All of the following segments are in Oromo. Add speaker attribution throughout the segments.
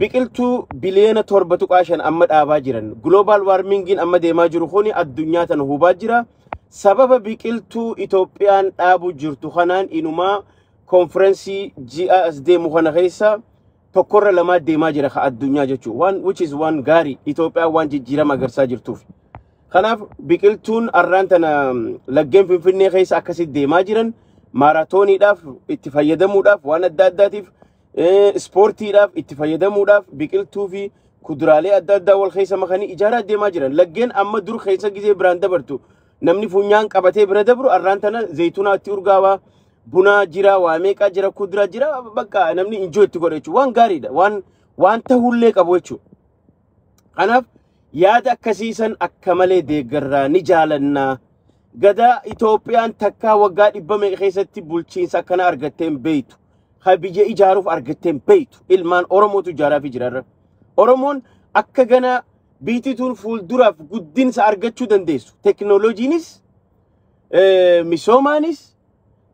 Speaker 1: biqiltuu biliyoona 7.5 amma dhaabaa jiran global warmingiin amma deemaa jiru kuni addunyaa tana hubaa jira sababa biqiltuu Itoophiyaan dhaabuu jirtu kanaan inumaa konferensii ji'a as deemu kana keessa tokkorra lamaa deemaa jira ka addunyaa jechuudha waan which is waan gaarii Itoophiyaan waan jijjiirama agarsaa jirtuuf kanaaf biqiltuun arraan tana laggeen finfinnee keessa akkasitti deemaa jiran maaraatooniidhaaf itti fayyadamuudhaaf waan adda addaatiif eh, ispoortiidhaaf itti fayyadamuudhaaf biqiltuu fi kuduraalee adda addaa wal keessa makanii ijaaraa deemaa jiran. Laggeen amma dur keessa gizee biraan dabartu namni funyaan qabatee bira dabru arraan tana zayitunaatti urgaawaa bunaa jira waa meeqaa jira kuduraa jira bakka namni injoo itti godha jechuudha. Waan gaariidha waan waan ta'ullee qabu jechuudha. Kanaaf yaada akkasiisan akka malee deeggarraa ni jaalannaa. Gadaa Itoophiyaan takkaa waggaa dhibba meeqa keessatti bulchiinsa akkana argattee hin beektu. ka biyya ijaaruuf argattee hin beektu. Ilmaan Oromootu ijaaraa fi jiraarra. Oromoon akka ganaa biitituun fuulduraaf guddinsa argachuu dandeessu. Teknooloojiinis, eh, misoomaanis,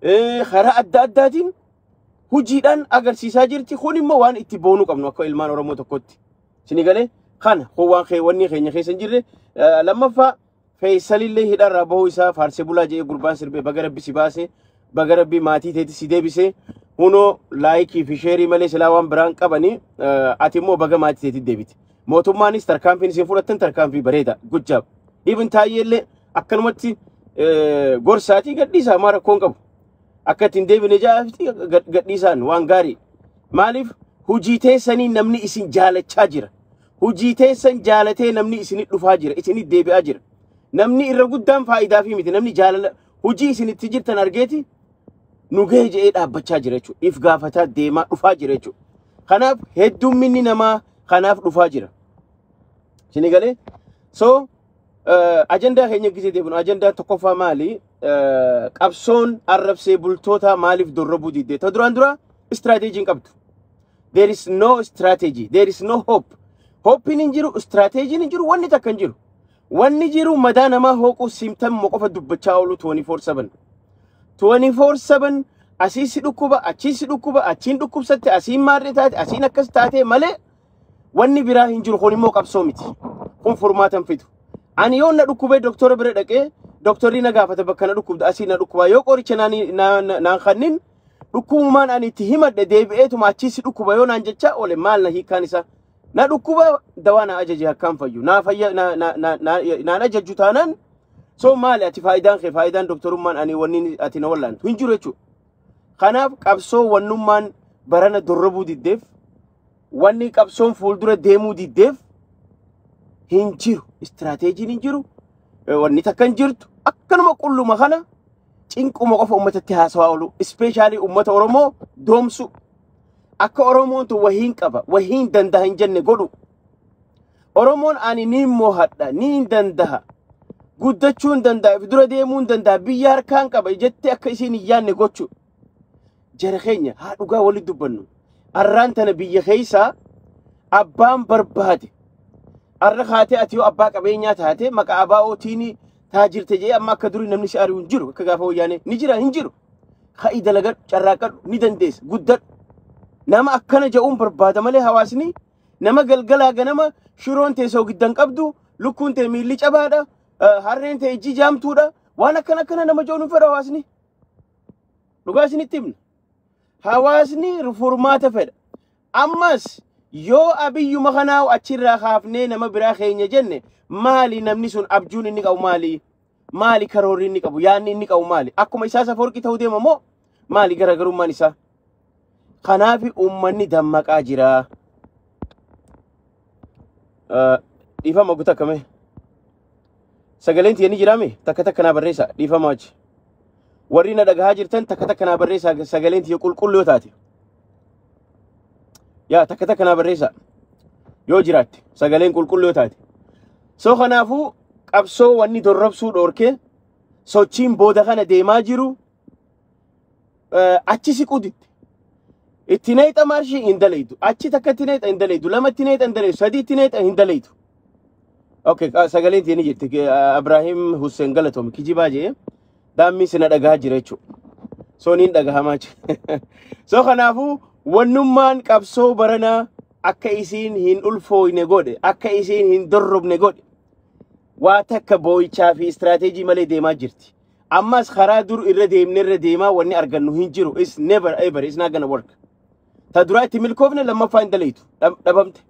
Speaker 1: eh, karaa adda addaatiin hojiidhaan agarsiisaa jirti. Kun immoo waan itti boonuu qabnu akka ilmaan Oromoo tokkotti. Sini galee kana kun waan kee- wanni keenya keessa hin jirre. Eh, Lammaffaa Feeysalillee hidharraa bahuu isaa faarsee bulaa jedhee gurbaan sirbee baga rabbi si baase baga rabbi maatii teetti si deebise hunoo laayikii fi sheerii malee silaa waan biraan qabanii ati immoo baga maatii teetti deebite. Mootummaanis tarkaanfiin isin fudhattan tarkaanfii bareeda gujjaab. Ibn taayyeellee akkanumatti gorsaatii gadhiisaa maa rakkoon qabu. Akka ittiin deebine jaa'aafti gadhiisaan waan gaarii. Maaliif hujii teessanii namni isin jaalachaa jira. Hojii teessan jaalatee namni isinit dhufaa jira, isinit deebi'aa jira. Namni irra guddaan faayidaafii miti. Namni jaalala hojii isin itti jirtan argeeti nu gahee jedhee dhaabbachaa jira jechuudha. If gaafataa deemaa dhufaa jira jechuudha. Kanaaf heddumminni namaa kanaaf dhufaa jira. Isin galee? So eh, ajandaa keenya gisee deebinu ajandaa tokkoffaa maali? Eh, Qabsoon arrabsee bultootaa maaliif dorrobuu didde? Ta duraan duraa istiraateejiin qabdu. there is no strategy there is no hope hoppiin hin jiru strateejiin hin jiru wanni takka hin jiru wanni jiru madaa namaa hooquu symptom qofa dubbachaa oolu 24/7 24/7 asii si dhukkuba achii si dhukkuba achiin dhukkubsatte asiin maarree taate asiin akkas taatee malee wanni biraa hin jiru kun immoo qabsoo miti kun furmaata hin fidu ani yoo na dhukkubee doktora bira dhaqee doktorri na gaafata bakka na dhukkubda asii na dhukkubaa yoo qoricha naan naan kannin Dhukkubumaan ani itti himadhe deebi'eetuma achii si dhukkuba yoo naan jechaa oole maal na hiikaan isaa. Na dhukkuba dawaa na ajaje akkaan fayyu. Naa fayya na na na na naan ajajju taanaan soo maali ati faayidaan kee faayidaan doktorummaan ani wanni ati na wallaantu hin jiru jechuudha. Kanaaf qabsoo wannummaan barana dorrobuu diddeef Wanni qabsoon fuuldura deemuu diddeef hin jiru. Istiraateejiin hin jiru. Wanni takka hin jirtu. Akkanuma qulluma kana cinquma qofa uummatatti haasawaa oolu. Ispeeshaalii uummata Oromoo doomsu. Akka Oromoon tun wahiin qaba, wahiin danda'a hin jenne godhu. Oromoon ani ni moohadha, ni hin danda'a. Guddachuu hin danda'a, dura deemuu hin danda'a, biyya harkaan qaba jettee akka isiin hin yaanne gochu. jara keenya haa dhugaa walitti dubbannu arraan tana biyya keessaa abbaan barbaade arra kaatee ati yoo abbaa qabeenyaa taate maqaa abaa ootiin taajirte jee amma akka durii namni si ari'u hin jiru akka gaafa wayyaanee ni jira hin jiru ka'i dalagadhu carraaqadhu ni dandeessa guddadhu nama akkana ja'uun barbaada malee hawaasni nama galgalaa ganama shiroon tee soogiddan qabdu lukkuun tee miilli cabaadha eh, harreen tee ijji jaamtuudha waan akkana akkana nama ja'uun hin fedhu hawaasni Dhugaa isinitti himna. Hawaasni furmaata fedha. Ammas yoo abiyyuma kanaa achirraa kaafnee nama biraa keenya jenne maali namni sun abjuun inni qabu maali? Maali karoorri inni qabu? Yaanni inni qabu maali? Akkuma isaa safoorqii ta'uu deema moo maali garaagarummaan isaa? Kanaaf uummanni dammaqaa jira. Eh, Dhiifama guutuu akkamii? Sagaleen tiyya ni jiraame takka takka naa barreessa dhiifama achi. Warri na dhagahaa jirtan takka takka naa barreessa sagaleen tiyya qulqulluu yoo taate. Yaa takka takka naa barreessa yoo jiraatte sagaleen qulqulluu yoo taate. So kanaafuu qabsoo wanni dorrobsuu dhoorkee sochiin booda kana deemaa jiru eh, achi siquu didde. Itti neexa maarshii hin dalaydu. Achi takka itti neexa hin dalaydu. Lama itti neexa hin dalaydu. Sadii itti neexa hin dalaydu. Okay, ah, sagaleen tiyya ni jirti. Ke- ah, Abraahim Hussein Galatoom kijibaa jee daammiin sina dhagahaa jira jechuudha. So niin dhagahamaa jira. So kanaafuu wannummaan qabsoo baranaa akka isiin hin ulfooyne godhe, akka isiin hin dorrobne godhe. waa takka boo'ichaa fi istiraateejii malee deemaa jirti. Ammas karaa dur irra deemne irra deemaa wanni argannu hin jiru. It's never ever. It's not gonna work. Ta duraa itti milkoofne lammaffaa hin dalaytu. Dhab- Dhabamte.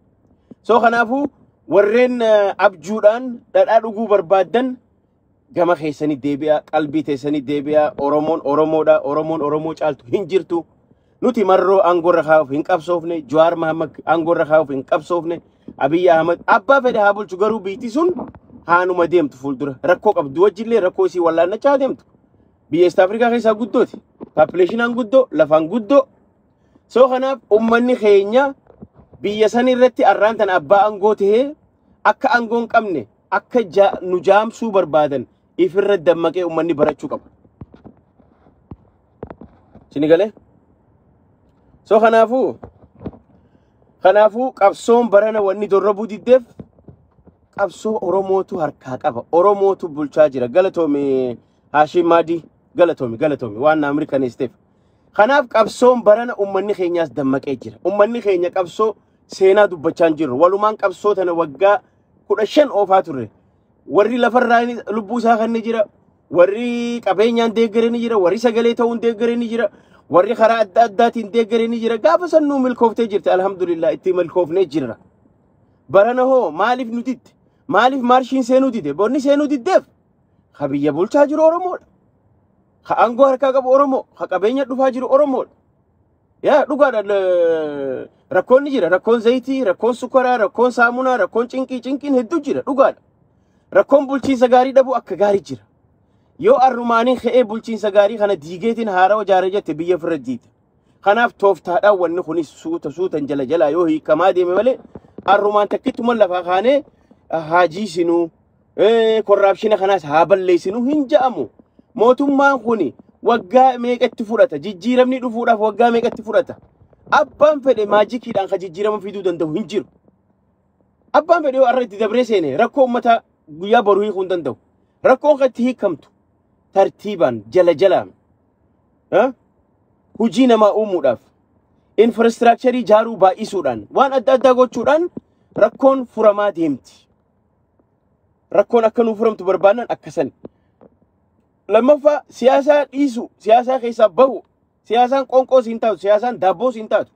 Speaker 1: So kanaafuu warreen eh, abjuudhaan dhadhaa dhuguu barbaaddan gama keessanii deebi'aa, qalbii teessanii deebi'aa, Oromoon Oromoodha, Oromoon Oromoo caaltu hin jirtu. Nuti marroo aangoorra kaa'uuf hin qabsoofne, Jawaar Mahammad aangoorra kaa'uuf hin qabsoofne, Abiyyi Ahmad abbaa fedhe haa bulchu garuu biitti sun haanuma deemtu fuuldura. Rakkoo qabdu wajjillee rakkoo isii wallaannachaa haa deemtu. Biyya East Afrikaa keessaa guddooti. Paapileeshinaan guddoo, lafaan guddoo. Soo kanaaf uummanni keenya biyya san irratti arraan tan abbaa aangoo tahee akka aangoo hin qabne akka ja- nu jaamsuu barbaadan ifirra dammaqee ummanni barachuu qaba. Sini galee? So kanaafuu kanaafuu qabsoon barana wanni dorrobuu diddeef qabsoo Oromootu harkaa qaba. Oromootu bulchaa jira. Galatoomi Haashim Maadii. Galatoomi galatoomi waan naa mirkaneesiteef. Kanaaf qabsoon barana ummanni keenyaas dammaqee jira. Ummanni keenya qabsoo seenaa dubbachaa hin jirru. Walumaan qabsoo tana waggaa kudha shan oofaa turre. warri lafarraa inni- lubbuu isaa kenne jira warri qabeenyaan deeggare ni jira warri sagalee ta'uun deeggare ni jira warri karaa adda addaatiin deeggare ni jira gaafa san nuu milkooftee jirti alhamdulillah itti milkoofnee jirra barana hoo maaliif nu didde maaliif maarshiin seenuu dide bonni seenuu diddeef ka biyya bulchaa jiru oromoodha ka aangoo harkaa qabu oromoo ka qabeenya dhufaa jiru oromoodha Yaa dhugaadha l- rakkoon ni jira. Rakkoon zayitii, rakkoon sukaraa, rakkoon saamunaa, rakkoon cinqii, cinqiin hedduu jira. Dhugaadha. Rakkoon bulchiinsa gaarii dhabuu akka gaarii jira. Yoo arrumaanii ka'ee bulchiinsa gaarii kana diigeetiin haarawa jaare jette biyya ofirra diita. Kanaaf tooftaadhaan wanni kunis suuta suutan jala jalaa yoo hiikamaa deeme malee arrumaan takkittuma lafaa kaanee haajii sinuu Eh, korraapshina kanas haa balleessinu hin ja'amu. Mootummaan kun waggaa meeqa itti fudhata? Jijjiiramni dhufuudhaaf waggaa meeqa itti fudhata? Abbaan fedhe maajikiidhaan kan jijjiirama fiduu danda'u hin jiru. Abbaan fedhe yoo har'a itti dabree seene rakkoo uummataa guyyaa boruu hiikuu hin danda'u. Rakkoon kan itti hiikamtu tartiibaan jala jalaan eh, hojii namaa uumuudhaaf infraastiraakcharii ijaaruu baay'isuudhaan waan adda addaa gochuudhaan rakkoon furamaa deemti. rakkoon akka nuu furamtu barbaannan akka sani. Lammaffaa siyaasaa dhiisu, siyaasaa keessaa bahu, siyaasaan qoonqoo siin taatu, siyaasaan daabboo siin taatu.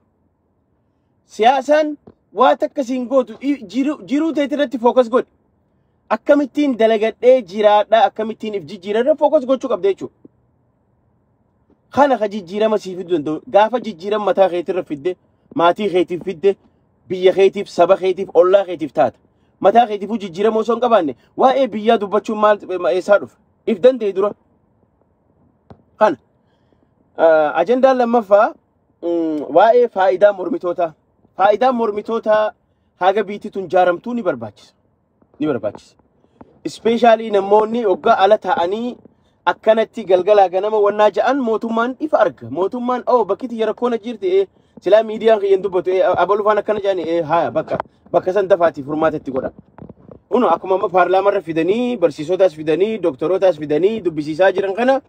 Speaker 1: Siyaasaan waa takka siin gootu i- jiruu jiruu teeti irratti fookas godhi. Akkamittiin dalagadhee jiraadhaa akkamittiin if jijjiira irra fookas gochuu qabda jechuudha. Kana ka jijjiirama sii fiduu danda'u gaafa jijjiirama mataa keetirra fidde maatii keetiif fidde biyya keetiif, saba keetiif, ollaa keetiif taata. Mataa keetiifuu jijjiirama osoo hin qabaanne waa'ee biyyaa dubbachuun maal eessaa dhufa? If danda'e dura. Kana. Ah, Ajandaan lammaffaa mm, waa'ee faayidaa mormitootaa. Faayidaan mormitootaa haga biitti tun jaaramtuu ni barbaachisa. ni barbaachisa. Ispeeshaalii namoonni hoggaa ala taa'anii akkanatti galgalaa ganama wannaa ja'an mootummaan ifa arga. Mootummaan oo bakki tiyya rakkoon achi jirti ee silaa miidiyaan kiyya hin dubbatu ee abalufaan akkana jedhani ee haa bakka bakka san dafaati furmaata itti godha. Kuno akkuma amma paarlaamarra fidanii barsiisotaas fidanii dooktorootaas fidanii dubbisiisaa jiran kana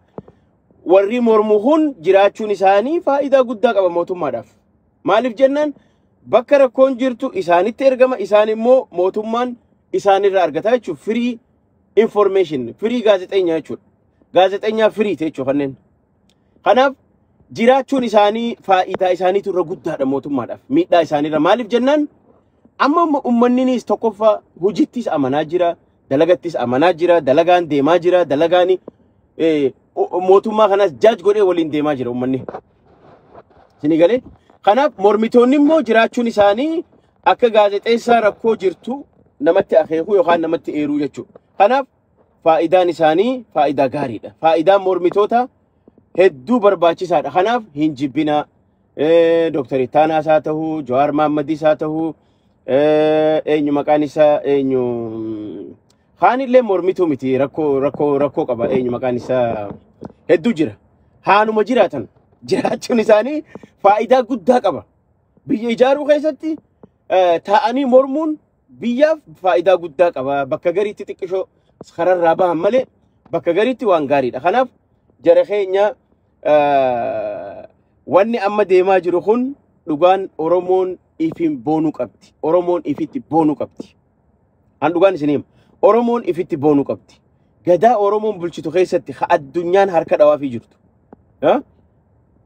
Speaker 1: warri mormu kun jiraachuun isaanii faayidaa guddaa qaba mootummaadhaaf. Maaliif jennaan bakka rakkoon jirtu isaanitti ergama isaan immoo mootummaan isaanirra argata jechuudha. Firii information, firii gaazexeenyaa jechuudha. Gaazexeenyaa firii jechuudha kanneen. Kanaaf jiraachuun isaanii faayidaa isaaniitu irra guddaadha mootummaadhaaf. Miidhaa isaaniirra maaliif jennaan amma amma uummanninis tokkoffaa hojittis amanaa jira, dalagattis amanaa jira, dalagaan deemaa jira, dalagaani eh, o- o- mootummaa kanas jaaj godhee waliin deemaa jira uummanni. Isinii galee? Kanaaf mormitoonni immoo jiraachuun isaanii akka gaazexeessaa rakkoo jirtu namatti akeekuu yookaan namatti eeruu jechuudha. Kanaaf faayidaan isaanii faayidaa gaariidha. Faayidaan mormitoota hedduu barbaachisaadha. Kanaaf hin jibbinaa. Eh, Dooktar Ittaanaas haa ta'u, Jawaar Maammadis haa ta'u, eh, eenyu maqaan isaa eenyu mm, Haanillee mormituu miti rakkoo rakkoo rakkoo qaba eenyu maqaan isaa hedduu jira. Haanuma jiraatan jiraachuun isaanii faayidaa guddaa qaba. Biyya ijaaruu keessatti eh, taa'anii mormuun biyyaaf faayidaa guddaa qaba. Bakka gariitti xiqqishoo kararraa bahan malee bakka gariitti waan gaariidha. Kanaaf jara keenya eh, wanni amma deemaa jiru kun dhugaan Oromoon ifiin boonuu qabdi. Oromoon ifitti boonuu qabdi. An dhugaan isin hima. Oromoon ifitti boonuu qabdi. Gadaa Oromoon bulchitu keessatti ha addunyaan harka dhawaafii jirtu. Ha?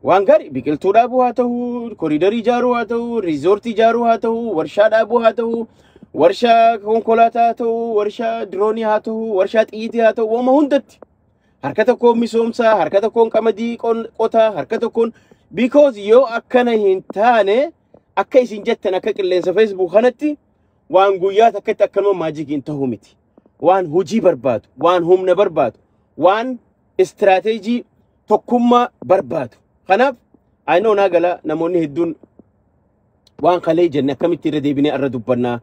Speaker 1: Waan gaarii biqiltuu dhaabuu haa ta'u, koriidarii ijaaruu haa ta'u, riizoortii ijaaruu haa ta'u, warshaa dhaabuu haa ta'u, warshaa konkolaataa haa ta'u, warshaa diroonii haa ta'u, warshaa xiyyitii haa ta'u, waama hundatti. Harka tokkoon misoomsaa, harka tokkoon qamadii qon- qotaa, harka tokkoon because yoo akkana hin taane akka isin jettan akka qilleensa Facebook kanatti Waan guyyaa takkatti akkanuma maajikiin ta'uu miti. Waan hojii barbaadu, waan humna barbaadu, waan istiraateejii tokkummaa barbaadu. Kanaaf ayinoo naa gala namoonni hedduun waan kalee jenne akkamitti irra deebinee irra dubbannaa.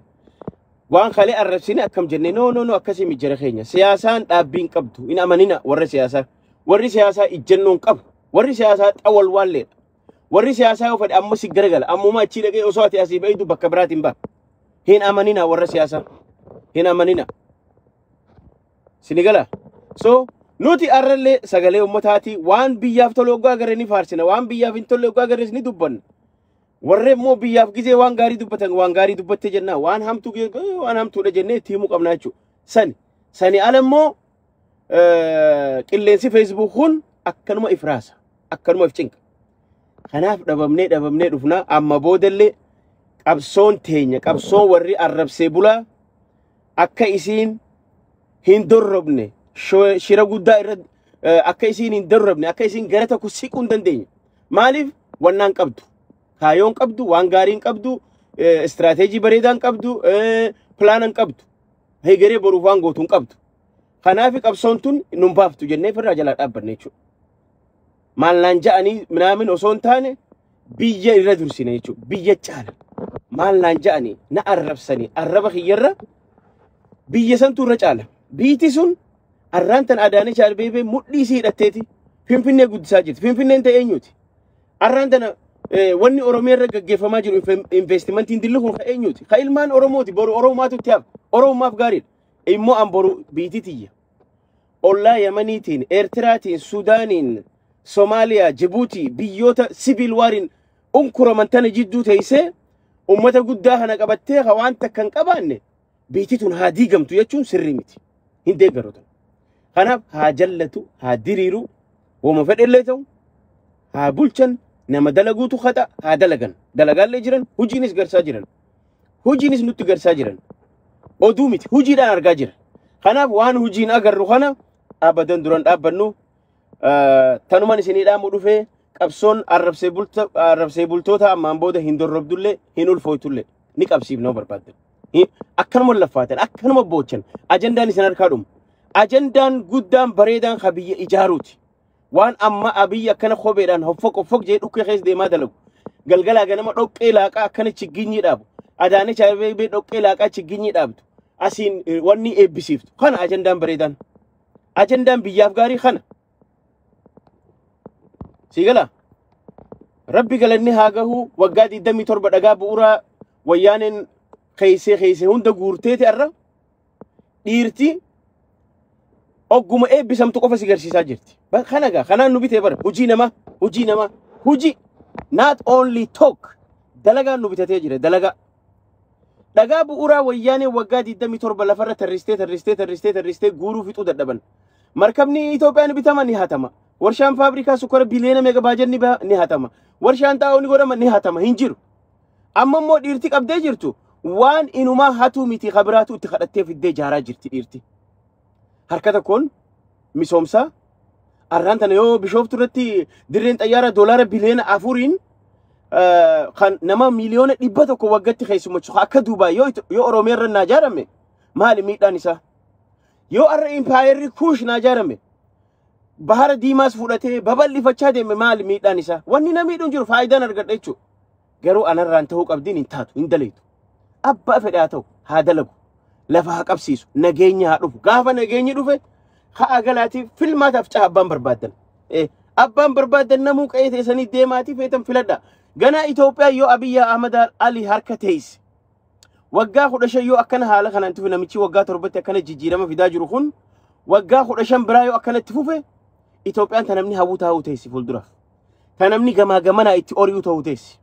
Speaker 1: Waan kalee arrabsine akkam jenne noo noo noo akkasii mijjira keenya. Siyaasaan dhaabbiin qabdu hin amanina warra siyaasaa. Warri siyaasaa ijjannoon qabu. Warri siyaasaa xawalwaalleedha. Warri siyaasaa yoo fedhe amma si garagala. Ammuma achii dhaqee osoo ati asii bahitu bakka biraatiin baha. Hin amanina warra siyaasaa. Hin amanina. Sinigala. So nuti arrallee sagalee ummataati waan biyyaaf tolu oggaa garee ni faarsina. Waan biyyaaf hin tolle oggaa garees ni dubbanna. Warri immoo biyyaaf gizee waan gaarii dubbatan waan gaarii dubbatte jenna. Waan hamtuu gizee waan hamtuudha jennee itti himuu qabna jechuudha. Sani. Sani ala immoo qilleensi feesbuuk kun akkanuma if raasa akkanuma if cinqa kanaaf dhabamnee dhabamnee dhufnaa amma boodallee qabsoon teenya qabsoon warri arrabsee bulaa akka isiin hin dorrobne shira guddaa irra akka isiin hin dorrobne akka isiin gara tokko siquu hin dandeenye maaliif wannaan qabdu kaayoon qabdu waan gaariin qabdu istiraateejii bareedaan qabdu pilaanan qabdu Hegeree boruuf waan gootu hin qabdu. Kanaafi qabsoon tun nun baaftu jennee firraa jalaa dhaabbanne jechuudha. Maal naan ja'anii minaamin osoo hin taane biyya irra dursine jechuudha. Biyya caala. Maal naan ja'anii na arrabsanii arraba kiyyarra biyya santu irra caala. Biiti sun arraan tan Adaanech Abeebee mudhii isii hidhatteeti. Finfinnee guddisaa jirti. Finfinneen ta'e eenyuti? Arraan tana wanni Oromiyaa irra gaggeeffamaa jiru investimentiin dilli kun eenyuuti? Ka ilmaan Oromooti boru Oromaatu itti hafa. Oromaaf gaariidha. Immoo an boru biitii tiyya. Ollaa Yamaniitiin, Eertiraatiin, Sudaaniin, Somaaliyaa, Jibuutii biyyoota siviil waariin unkuraman tana jidduu teessee ummata guddaa kana qabattee ka waan takka hin qabaanne biitii tun haa diigamtu jechuun sirrii miti. Hin deeggarotan. Kanaaf haa jallatu, haa diriiru, Woma fedhellee ta'u haa bulchan nama dalaguutu haxa haa dalagan. Dalagaallee jiran hojiinis garsaa jiran. Hojiinis nutti garsaa jiran. Oduu miti hojiidhaan argaa jira. Kanaaf waan hojiin agarru kana abadan duran dhaabbannu eh, tanuman isinii dhaamu dhufee qabsoon arrabsee bulta- arrabsee bultoota ammaan booda hin dorrobdullee hin ulfooytullee ni qabsiifnoo barbaaddan. Hi- Akkanuma laffaatan akkanuma boochan ajandaan isin harkaa dhumu. Ajandaan guddaan bareedaan ka biyya ijaaruuti. Waan amma abiyyi akkana kopheedhaan hoffoq hoffoq jee dhukkee keessa deemaa dalagu. Galgalaa ganama dhoqqee laaqaa akkana chigginyii dhaabu. Adaanech Abeebee dhoqqee laaqaa chigginyii dhaabdu. Asiin eh, wanni eebbisiiftu. Kana ajandaan bareedaan. Ajandaan biyyaaf gaarii kana. Sii galaa? Rabbi galanni haa gahu waggaa 27 dhagaa bu'uuraa wayyaaneen keeysee keeysee hunda guurteeti arra. dhiirti ogguma eebbisamtu qofa si garsiisaa jirti. Ba- Kana gaa kanaan nu bitee bara hojii namaa hojii namaa hojii not only talk dalagaan nu bitatee jira dalagaa. Dhagaa bu'uuraa wayyaanee waggaa 27 lafarra tarristee tarristee tarristee tarristee guuruu fixuu dadhaban. Markabni Itoophiyaa ni bitama ni hatama. Warshaan faabrikaa sukkaara biliyoona meeqa baajan ni ba- ni hatama. Warshaan xaa'oo ni godhama ni hatama hin jiru. Amma immoo dhiirti qabdee jirtu waan inumaa hatuu miti ka biraatu itti kadhattee fiddee jaaraa jirti dhiirti. Harka tokkoon misoomsaa arraan tana yoo bishooftu irratti dirreen xayyaara doolaara biliyoona afuriin eh, kan nama miliyoona dhibba tokko waggatti keessummachu akka Duubaay yoo Ito- yoo Oromiyaa irra naa jaarame maali miidhaan isaa? Yoo har'a impaayerri kuush naa jaarame Bahara diimaas fudhatee babal'ifachaa deeme maali miidhaan isaa? Wanni na miidhu hin jiru faayidaan argadha jechuudha. Garuu anarraan ta'uu qabdiin hin taatu hin dalaytu. Abbaa fedhe haa ta'u haa dalagu. Lafa haa qabsiisu nageenya haa dhufu. Gaafa nageenyi dhufe ha'a galaatiif filmaataaf caha abbaan barbaaddan. Eh, Abbaan barbaaddan namuu qe'ee teessanii deemaatii feetan filadha. Ganaa Itoophiyaa yoo Abiyyi Ahmad Ali harka teesse Waggaa kudha shan yoo akkana haala kanaan tufe namichi waggaa torbatti akkana jijjiirama fidaa jiru kun waggaa kudha shan biraa yoo akkanatti fufe Itoophiyaan ta namni hawwu taa'uu teessi fuulduraaf. Ta namni gamaa gamanaa itti ori'uu ta'uu teessi.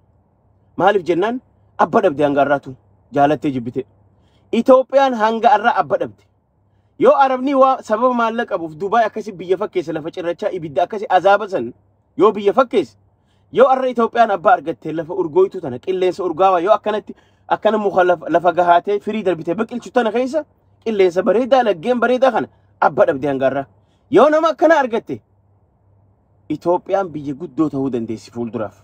Speaker 1: Maaliif jennaan abba dhabde hanga har'aatu jaalattee jibbite. Itoophiyaan hanga har'aa abba dhabde. Yoo Arabni waa sababa maallaqa qabuuf Dubaay akkasi biyya fakkeessa lafa cirrachaa ibidda akkasi azaaba san yoo biyya fakkeessa yoo arra Itoophiyaan abbaa argattee lafa urgooytuu tana qilleensa urgaawaa yoo akkanatti akkana muka lafa, lafa gahaatee firii darbitee biqilchu tana keessa qilleensa bareedaa laggeen bareedaa kana abba dhabdee hangaarraa yoo nama akkana argatte Itoophiyaan biyya guddoo ta'uu dandeessi fuulduraaf.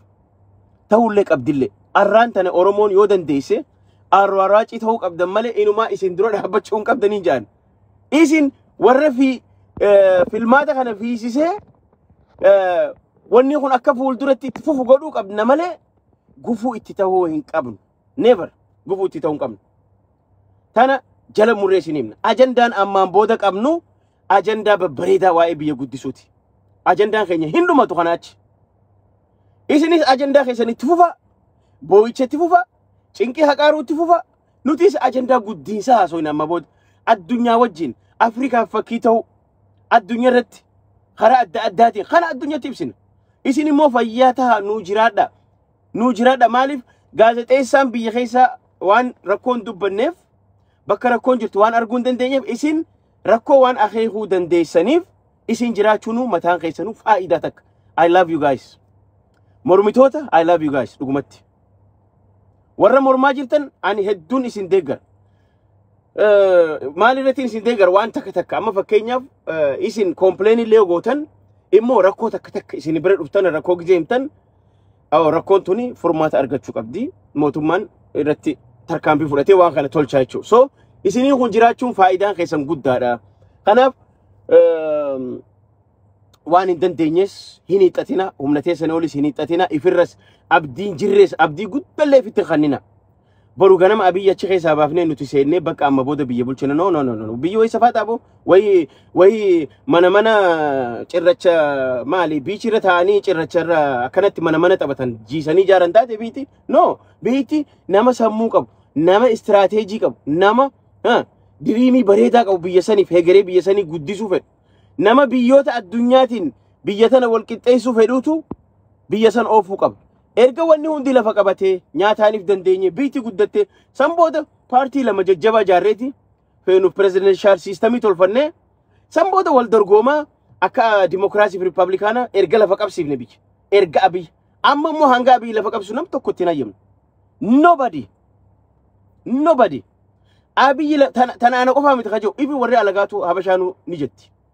Speaker 1: Ta'ullee qabdillee. Arraan tana Oromoon yoo dandeesse arraaraacii ta'uu qabdan malee inumaa isin dura dhaabbachuu hin qabdanii jaan. Isin warra fi filmaata kana fiisisee wanni kun akka fuulduratti itti fufu godhuu qabna malee gufuu itti ta'uu hin qabnu. never gufuu itti ta'uu hin qabnu. Tana jala murree isin himna. Ajandaan ammaan booda qabnu ajandaa babbareedaa waa'ee biyya guddisuuti. Ajandaan keenya hin dhumatu kanaa achi. Isinis ajandaa keessan itti fufa, boo'icha itti fufa, cinqii haqaaruu itti fufa. Nutis ajandaa guddiinsaa haasofna amma booda. Addunyaa wajjin Afrikaaf fakkii ta'uu addunyaa irratti karaa adda addaatiin kana addunyatti ibsina. Isin immoo fayyaa tahaa nuu jiraadhaa. nuu jiraadha maaliif gaazexeessaan biyya keessa waan rakkoon dubbanneef bakka rakkoon jirtu waan arguu hin dandeenyeef isin rakkoo waan akeekuu dandeessaniif isin jiraachuunuu mataan keessanuu faayidaa takka. I love you guys. Mormitoota I love you guys dhugumatti. Warra mormaa jirtan ani hedduun isin deeggar. Maal irratti isin deeggar waan takka takka amma fakkeenyaaf isin kompileen illee gootan immoo rakkoo takka takka isin bira dhuftan rakkoo gizee himtan Awo rakkoon tuni furmaata argachuu qabdi. Mootummaan irratti tarkaanfii fudhatee waan kana tolchaa jechuudha. So isinii kun jiraachuun faayidaan keessan guddaadha. Kanaaf ehm, waan hin dandeenyes hin hiixatina, humna teessan olis hin hiixatina, ifirras abdiin jirres abdii guddallee ifitti hin kennina. Boru ganama Abiy achi keessaa baafnee nuti seennee bakka amma booda biyya bulchina. No, no, no, no. no. Biyyi wayii safaa taaboo wayii wayii mana mana cirracha maali biichi irra taa'anii cirracha irra akkanatti mana mana taphatan jiisanii ijaaran taate biitti. No, biitti nama sammuu qabu, nama istiraateejii qabu, nama ha, diriimii bareedaa qabu biyya saniif hegeree biyya sanii guddisuu fedhu. Nama biyyoota addunyaatiin biyya tana wal qixxeessuu fedhuutu biyya san oofuu qaba. Erga wanni hundi lafa qabatee, nyaataanif dandeenye, biyti guddatte, san booda paartii lama jajjabaa jaarreeti feenu presidential system tolfannee, san booda wal dorgoomaa akka dimokiraasiif rippaablikaana erga lafa qabsiifne biyya. Erga Abiy. Amma immoo hanga Abiy lafa qabsu nam tokko ittiin hayyamne. Nobody. Nobody. Abiy la- tana tana ana qofaa miti kajoo. Ifi warri alagaatu habashaanuu ni jetti.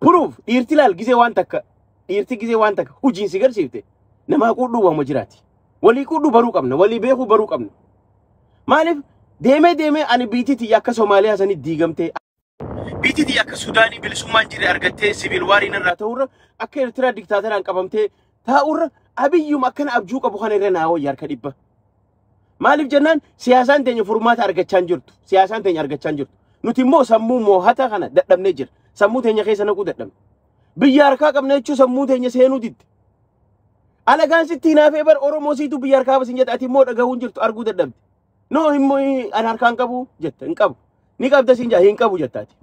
Speaker 1: Proof dhiirti laal gisee waan takka dhiirti gisee waan takka hojiin si garsiifte namaa quudhuu waama jiraati. Walii quudhuu baruu qabna walii beekuu baruu qabna. Maaliif deemee deemee ani biitii tiyya akka Somaaliyaa sanii diigamtee biitii tiyya akka Sudaanii bilisummaan jirre argattee siviil waariin irraa ta'urra akka Eertiraa diktaateraan qabamtee taa'urra abiyyuma akkana abjuu qabu kana irra naa wayya harka dhibba. Maaliif jennaan siyaasaan teenya furmaata argachaa hin jirtu. Siyaasaan teenya argachaa hin jirtu. Nuti immoo sammuu moohataa kana dadhabnee jira. Sammuu teenya keessa naquu dadhabne. Biyya harkaa qabna jechuun sammuu teenya seenuu didde. Alagaan sitti hinaafee bar Oromoo siitu biyya harkaa basin jette ati immoo dhagahuu hin jirtu arguu dadhabde. Noo immoo an harkaan qabu jetta hin qabu. Ni qabda siin jaa hin qabu jetta ati.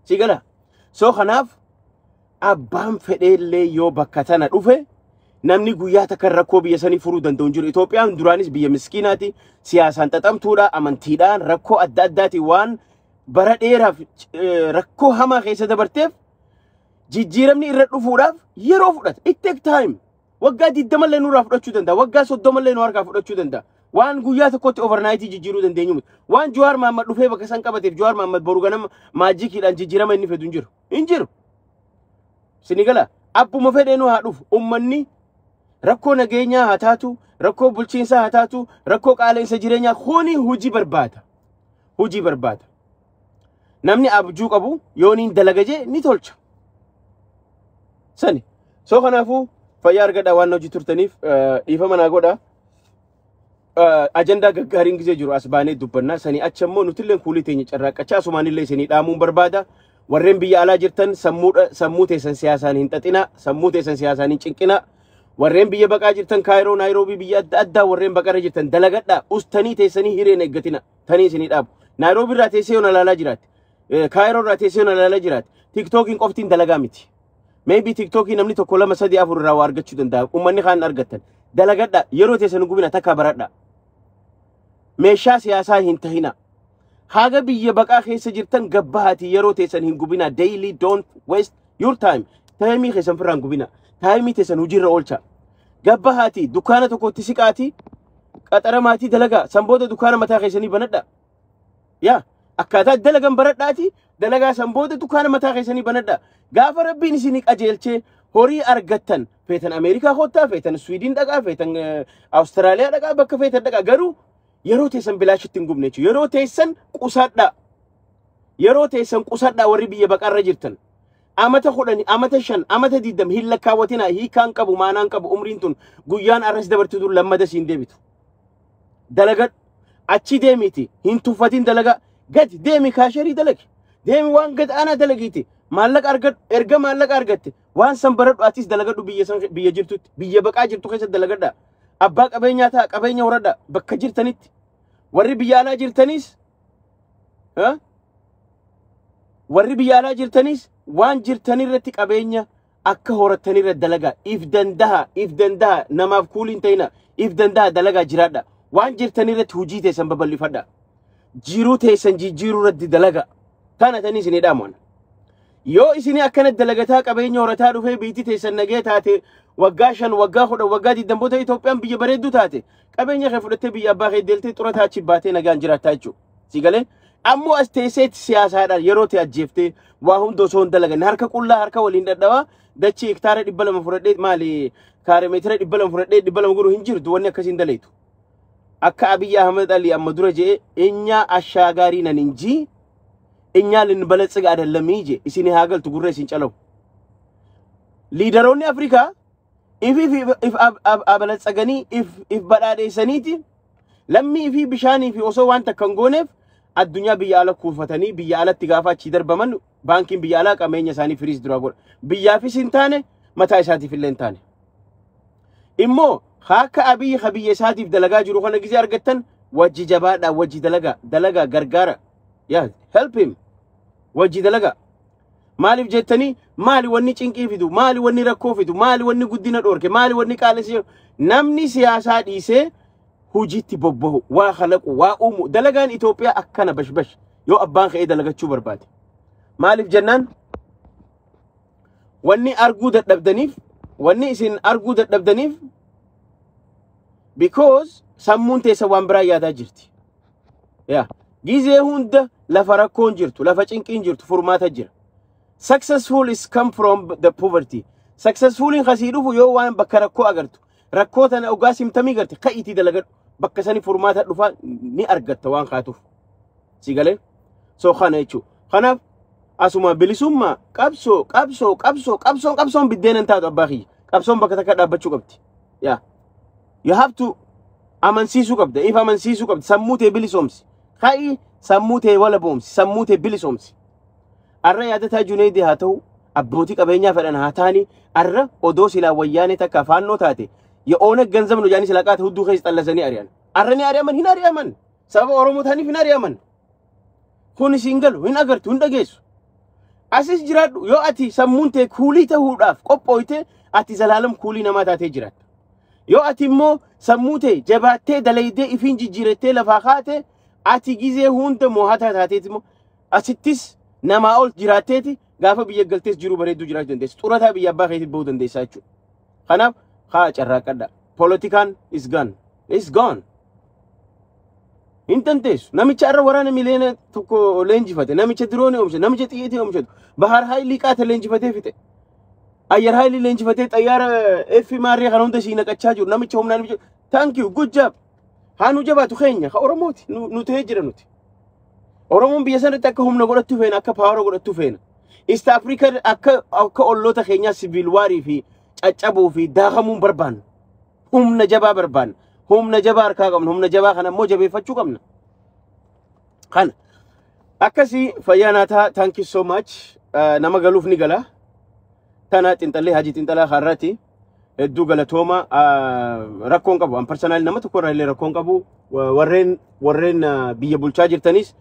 Speaker 1: Si gala. So kanaaf abbaan fedheellee yoo bakka tana dhufe namni guyyaa takka rakkoo biyya sanii furuu danda'u hin jiru. Itoophiyaan duraanis biyya miskiinaati. Siyaasaan xaxamtuudha, amantiidhaan, rakkoo adda addaatiin waan bara dheeraaf eh, rakkoo hamaa keessa dabarteef jijjiiramni irra dhufuudhaaf yeroo fudhata. It take time. Waggaa 20 illee nurraa fudhachuu danda'a. Waggaa 30 illee nu harkaa fudhachuu danda'a. Waan guyyaa tokkotti overnight jijjiiruu dandeenyu miti. Waan Jawaar Mahammad dhufee bakka san qabateef Jawaar Mahammad boru ganama maajikiidhaan jijjiirama inni fedu hin jiru. Hin jiru. Sinigala abbuma fedheenuu haa dhufu. Ummanni rakkoo nageenyaa haa taatu, rakkoo bulchiinsaa haa taatu, rakkoo qaala'insa jireenyaa kuni hojii barbaada. Hojii barbaada. Namni abjuu qabu yoo niin dalaga jee ni tolcha. Sani. Soo kanaafuu fayyaa argadhaa waan hojii turtaniif eh, dhiifama naa godhaa. Eh, Ajandaa gaggaariin gisee jiru as baanee dubbannaa. Sanii achi immoo nutillee kuulii teenya carraaqqachaa asumaanillee isinii dhaamuun barbaada. Warreen biyya alaa jirtan sammuudha sammuu teessan siyaasaan hin xaxinaa. Sammuu teessan siyaasaan hin cinqinaa. Warreen biyya baqaa jirtan Kaayiroo, Naayiroobii biyya adda addaa warreen baqarra jirtan dalagadhaa. Ustanii teessanii hireen eeggatina. tanii isinii dhaabu. Naayiroobii irraa teessee yoona ilaalaa jiraatti. Kaayiroo irraa teessee yoona ilaalaa jiraatti. Tiktookiin qoftiin dalagaa miti. Maybe tiktookii namni tokko lama sadii afur irraa waa argachuu danda'a. Uummanni kaan argattan. Dalagadha yeroo teessan hin gubina takka baradha. Meeshaa siyaasaa hin tahina. Haga biyya baqaa keessa jirtan gabbahaatii yeroo teessan hin gubina. Daily don't waste your time. Taayimii keessan firraa hin gubina. Taayimii teessan hojiirra oolcha. Gabbahaatii dukkaana tokkotti siqaatii qaxara maatii dalagaa san booda dukkaana mataa keessanii banadha yaa akkaataa dalagan baradhaati dalagaa san booda dukkaana mataa keessanii banadha gaafa rabbiin isinii qajeelchee horii argattan feetan ameerikaa koottaa feetan swiidin dhaqaa feetan eh, awustiraaliyaa dhaqaa bakka feetan dhaqaa garuu yeroo teessan bilaashitti hin gubne jechuudha yeroo teessan qusadhaa yeroo teessan qusadhaa warri biyya baqarra jirtan Amata kudhani, amata shan, amata diddam hin lakkaawwatina hiikaan qabu maanaan qabu umriin tun guyyaan arras dabartu tun lammada siin deebitu. Dalagadhu achi deemiti hin tuffatin dalagaa gadi deemi kaasherii dalagi deemi waan gad aanaa dalagiiti maallaqa argadhu erga maallaqa argatte waan san baradhu atis dalagadhu biyya san biyya jirtutti biyya baqaa jirtu keessa dalagadha abbaa qabeenyaa ta'a qabeenya horadha bakka jirtanitti warri biyya alaa jirtaniis Eh? warri biyya alaa jirtanis waan jirtan irratti qabeenya akka horattan irra dalagaa if dandaha if dandaha namaaf kuulii hin ta'ina if dandaha dalagaa jiraadha waan jirtan irratti hojii teessan babal'ifadha jiruu teessan jijjiiruu irratti dalagaa tana tanii isin hidhaamoon yoo isin akkana dalagataa qabeenya horataa dhufee biitti teessan nagee taate waggaa shan waggaa kudhan waggaa digdamboota Itoophiyaan biyya bareedduu taate Qabeenya kee fudhattee biyya abbaa kee deeltee xurataa achi baatee nagaan jiraattaa jechuudha. Si galee ammoo as teesseetti siyaasaadhaan yeroo ta'e ajjeeftee waa hunda osoo hin dalaganne harka qullaa harka waliin dhadhawaa dachii hektaara dhibba lama fudhadhee maali kaare meetira dhibba lama fudhadhee dhibba lama godhu hin jirtu wanni akkasiin daleetu. Akka Abiyyi Ahmed Ali amma dura je'e eenyaa ashaa gaarii nan hin jii eenyaa lin balatsiga adallamii je isin haa galtu gurra isin calawu. Liidaroonni Afrikaa if if if if ab- ab- abalatsaganii if if badhaadheessaniiti lammii fi bishaanii fi osoo waan takka hin gooneef addunyaa biyya ala kuufatanii biyya alatti gaafa achii darbaman baankiin biyya alaa qabeenya isaanii firiis duraa godha. Biyyaafis hin taane mataa isaatiif illee hin taane. Immoo akka abiyyi ka biyya isaatiif dalagaa jiru kana gisee argattan wajji jabaadhaa wajji dalagaa dalagaa gargaara. Yaa help him wajji dalagaa. Maaliif jettanii maali wanni cinqii fidu maali wanni rakkoo fidu maali wanni guddina dhoorke maali wanni qaalessi jedhu namni siyaasaa dhiisee hojiitti bobbahu waa kalaqu waa uumu dalagaan Itoophiyaa akkana bashbash yoo abbaan ka'ee dalagachuu barbaade. Maaliif jennaan wanni arguu dadhabdaniif wanni isin arguu dadhabdaniif because sammuun teessa waan biraa yaadaa jirti. yaa gizee hunda lafa rakkoon jirtu lafa cinqiin jirtu furmaata jira successful is come from the poverty successfuliin kasii dhufu yoo waan bakka rakkoo agartu rakkoo tana ogaa simtamii garte ka itti dalagadhu bakka sani furmaata dhufa ni argatta waan kaatuuf si galee so kana jechuu kanaaf asuma bilisummaa qabsoo qabsoo qabsoo qabsoon qabsoon biddeena hin taatu abbaa kiyya qabsoon bakka takka dhaabbachuu qabdi Yeah. You have to amansiisuu qabda. If amansiisuu qabda. Sammuu tee bilisoomsi. Ka'i sammuu tee walaboomsi. Sammuu tee bilisoomsi. Arra yaadataa Juneedi haa ta'u abbootii qabeenyaa fedhan haa ta'ani arra odoo silaa wayyaanee takka afaannoo taate ya oona ganzab nu jaanii silaa qaate hudduu keessa xallasanii ari'an. Arra ni ari'aman hin ari'aman. Sababa Oromoo ta'aniif hin ari'aman. Kun isin galu hin agartu hin dhageessu. Asis jiraadhu yoo ati sammuun tee kuulii ta'uudhaaf qophooyte ati zalaalam kuulii namaa taatee jiraatta. Yoo ati immoo sammuu tee jabaattee dalaydee ifiin jijjiirattee lafaa kaate ati gizee hunda moohataa taateeti immoo asittis namaa ol jiraatteeti gaafa biyya galtees jiruu bareedduu jiraachuu dandeessa. Xurataa biyya abbaa keetii bahuu dandeessaa jechuudha. Kanaaf haa carraaqqadha. Poolitikaan is gone. It's gone. Hin dandeessu. Namicha irra waraana miliyoona tokko leenjifate. Namicha diroonii oomshe. Namicha xiyyiitii oomshatu. Bahaar Haayilii qaata leenjifatee fixe. Ayyar Haayilii leenjifatee xayyaara F maarree kana hunda sii naqachaa jiru. Namicha humnaa namicha. Thank you. Good job. Haa nu jabaatu keenya. Ka Oromooti. Nu nu ta'ee jira nuti. Oromoon biyya sanatti akka humna godhattu feena, akka paawara godhattu feena. East Africa akka akka olloota keenyaa siviil waarii fi caccabuu fi daakamuun barbaanna. Humna jabaa barbaanna. Humna jabaa harkaa qabna. Humna jabaa kana immoo jabeeffachuu qabna. Kana. Akkasii fayyaa naa ta'a. Thank you so much. Eh, Nama galuuf ni gala. Tana xinxallee hajii xinxalaa har'aati. Hedduu galatooma. Ah, Rakkoon qabu. An parsanaalii nama tokko irraa illee rakkoon qabu. Wa- Warreen warreen ah, biyya bulchaa jirtanis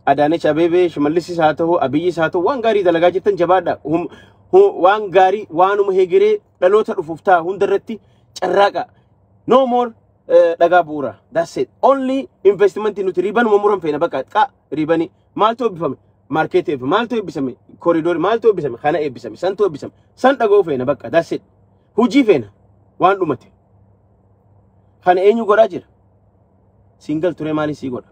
Speaker 1: Adaanech Abeebee, Shimallisis haa ta'u, Abiyyis haa ta'u waan gaarii dalagaa jirtan jabaadha. Hum- hu- Waan gaarii waanuma hegeree dhaloota dhufuuf ta'a hunda irratti carraaqa. No more eh, dhagaa bu'uura. That's it. Only investment nuti riibanuma muran feena bakka qa riibanii maaltu eebbifame? Market eebbifame. Maaltu eebbisame? Koridoor maaltu eebbisame? Kana eebbisame. Santu eebbisame. San dhaga'uu feena bakka. That's it. Hujii feena. Waan dhumate. Kana eenyu godhaa jira? Single ture maaliin sii godha?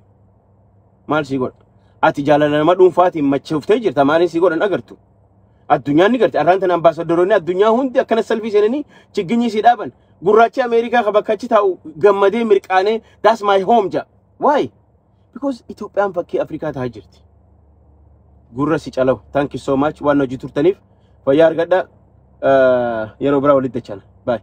Speaker 1: Maal sii godha? Ati jaalala nama dhuunfaatiin machooftee jirta maaliin sii godhan agartu? Addunyaan ni garti. Arraan tana ambaasadaroonni addunyaa hundi akkana salfii seenanii chigginyii sii dhaaban. Gurraachi Ameerikaa ka bakka achi taa'u gammadee mirqaanee that's my home ja. Why? Because Itoophiyaan fakkii Afrikaa taa'aa jirti. Gurra si calawu. Thank you so much waan hojii turtaniif. Fayyaa argadhaa. Eh, Yeroo biraa walitti dachana. Bye.